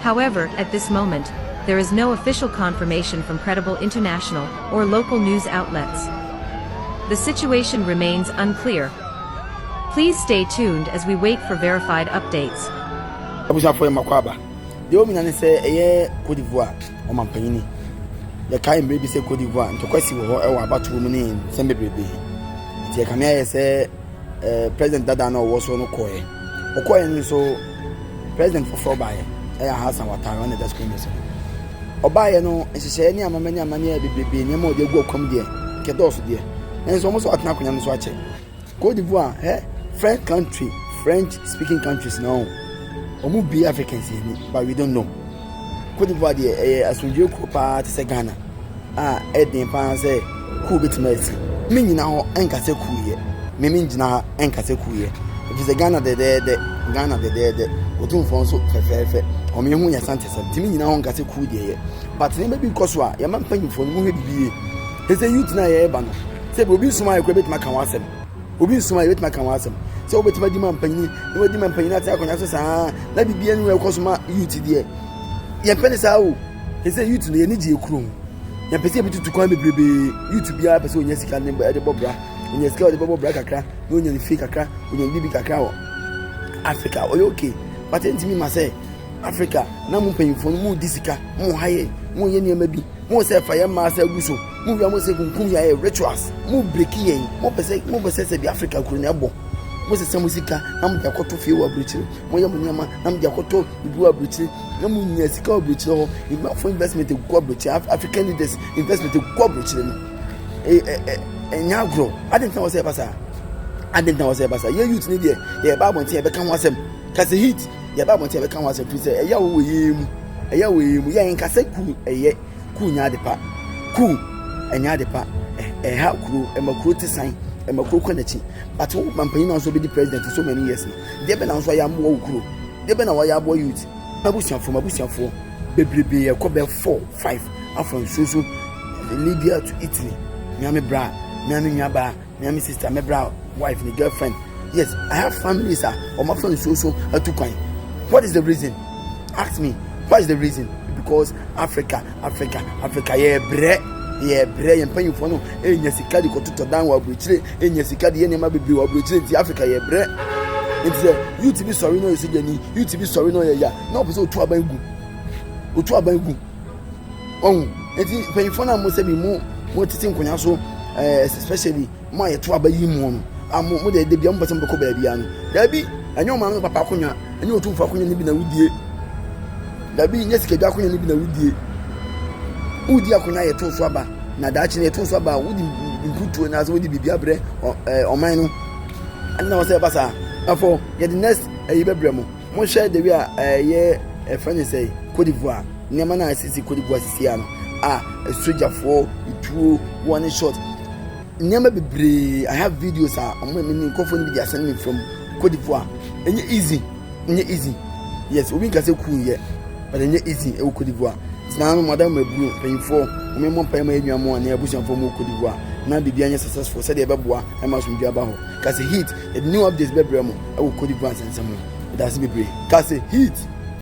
However, at this moment, there is no official confirmation from credible international or local news outlets. The situation remains unclear. Please stay tuned as we wait for verified updates. abusuafoɔ yɛn makɔ aba deɛ wɔn nyinaa ne sɛ ɛyɛ cote d'ivoire ɔmampanyini yɛkae mmerɛ bi sɛ cote d'ivoire ntɔkwasi wɔ hɔ wɔ abatoɔ mu ne nsɛm bebrebe nti ɛkame ayɛ sɛ ɛɛ president dada na ɔwɔ so no kɔɛ ɔkɔɛ no nso president foforɔ baeɛ ɛyɛ Hassan Ouattara ɔne dɛ screen so ɔbaeɛ no nhyehyɛeɛ ne amama ne amane a bebrebe nneɛma ɔde agu ɔkɔm deɛ kɛdɔɔso deɛ nanso wɔn nso atena akonnwa no so akyɛ Cote d'Ivoire ɛ French country French speaking countries na wɔn wɔn bue Africans yɛn ni but we don't know. Cote d'Ivoire deɛ, ɛyɛ asomdwoeɛ kuro pa ara te sɛ Ghana a ɛyɛ den pa ara sɛ kuo bɛtumi asi. Mennyina hɔ nka sɛ kuo yɛ. Me mengyina ha nka sɛ kuo yɛ. Ɛfiri sɛ Ghana dɛdɛɛdɛ, Ghana dɛdɛɛdɛ. Otumfoɔ nso fɛfɛɛfɛ. Wɔn yɛ ho yɛ Asantesɛm nti mennyina hɔ nka sɛ kuo deɛ yɛ. But nneɛma bi rekɔ so a, yɛn mma mpanyimfoɔ no, monhwɛ biribi yie. Seesei youth no a yɛreba no, sɛ bi obi nsom ayɛ koraa bɛtumi aka ho asɛm. Obi nso a yɛbɛtumi aka ho asɛm sɛ wobɛtumi adi ma mpanyini na wadi ma mpanyini ate akonnwa so saa na biribi anim ɛkɔ so ma youth deɛ yɛmpɛ ne saa o ɛsɛ youth no yɛni gyeɛ kuro ho yɛmpɛ sɛ yɛbɛtutu kwan bebrebe youth biara pɛ sɛ ɔnya sika ne ɛde bɔ bra ɔnya sika ɔde bɛbɔ bra kakra na ɔnya ne fie kakra ɔnya ne biribi kakra wɔ africa ɔyɛ okay but ɛntumi ma sɛ africa na mo mpanyinfoɔ no mo di sika mo ha yɛ mo yɛ nneɛma bi mo sɛ fa yɛ mmaa sɛ agu so Mo wia mo sɛ kunkum yɛn ayɛ rituals mo breki yɛn mo pɛ sɛ mo pɛ sɛ sɛ bi Africa kuro na ɛbɔ mo sɛ sɛ mo sika na mo de akɔto fie wɔ aburokyire mo yɛ mo nneɛma na mo de akɔto bibi wɔ aburokyire na mo nya sika wɔ aburokyire hɔ nkurɔfo investment gu aburokyire Af African leaders investment gu aburokyire no ɛ ɛ ɛ ɛnyɛ agorɔ adi ntina wɔ sɛ ɛba saa adi ntina wɔ sɛ ɛba saa yɛ youth ne deɛ yɛ ɛba abɔnten yɛ bɛka ho asɛm kasa heat yɛ ɛba abɔnten yɛ bɛka ho asɛm fi sɛ ɛyɛ awɔ wɔ yɛn mu ɛyɛ awɔ yɛn mu yɛ nkasa ku ɛyɛ. Kuu nyɛ ade pa. Kuu ɛnyɛ ade pa. Ɛha kuro, ɛma kuro te san, ɛma kuro kɔ n'akyi. But wo mampanyin na nso bɛdi president so many years no. Deɛ bɛ na nso ayɛ amoa wo kuro. Deɛ bɛ na wɔayɛ aboa youth. M'abusuafoɔ, m'abusuafoɔ bebrebe yɛkɔ bɛ four five afa nsuo so Libya to Italy. Mea me bra, mea me nuabaa. Me ara me sista, me bra wife, me girlfriend. Yes, I have families a wɔn afa nsuo so atu kwan. What is the reason? Ask me. What is the reason? Because Africa, Africa, Africa, yɛ brɛ, yɛ brɛ, yɛn mpanyinfoɔ no enya sika de kɔtotɔ dan wɔ aburokyire, enya sika de yɛ nneɛma bebree wɔ aburokyire nti Africa yɛ brɛ. Nti sɛ youth bi sɔre na ɔyɛ sogyani, youth bi sɔre na ɔyɛ ya, na ɔpɛ sɛ otu aban gu, otu aban gu. Wahu? Enti mpanyimfo no a mo sɛ bi mo mo tete nkonnwa so ɛɛ eh, especially mo a yɛto aba yi mu no a mo mo de de bia mo pɛsɛ mo bɛkɔ baabi ano dabi ɛnyɛ ɔmaame no papa akonnwa ɛnyɛ otumfo akonnwa no bi na wudie dabi nyɛ sikadwa akonnwa no bi na wudie wudi akonnwa yɛto so aba na daakye no yɛto so aba wodi mputuo na sɛ wodi biribi abrɛ ɔman no ɛna wɔsɛ ɛba saa afɔ yɛde next ɛyi bɛbrɛ mo Monhwɛ the way a eh yɛ eh frɛ ne sɛe Cote d'Ivoire nneɛma no a ɛsisi Cote d'Ivoire sisi a no a eh sogyafoɔ tuo wɔn ne shot nneɛma bebree I have videos a wɔn a mini nkurɔfoɔ no bi de asɛne me fam Cote d'Ivoire ɛnyɛ easy ɛnyɛ easy yes obi nka sɛ cool yɛ but ɛnyɛ easy ɛwɔ Cote d'Ivoire sinaa no mada mu aburo mpanyinfoɔ wɔn mmɔ mpae ma yɛn nua mo a ne abusuafoɔ mu wɔ Cote d'Ivoire na biribi anyɛ successful sɛdeɛ ɛbɛboa ɛma asomdwe aba hɔ. Ka se hit yɛde new updates bɛbrɛ mo wɔ Cote d'Ivoire nsɛnsɛm ho. Medase bebree. Ka se hit.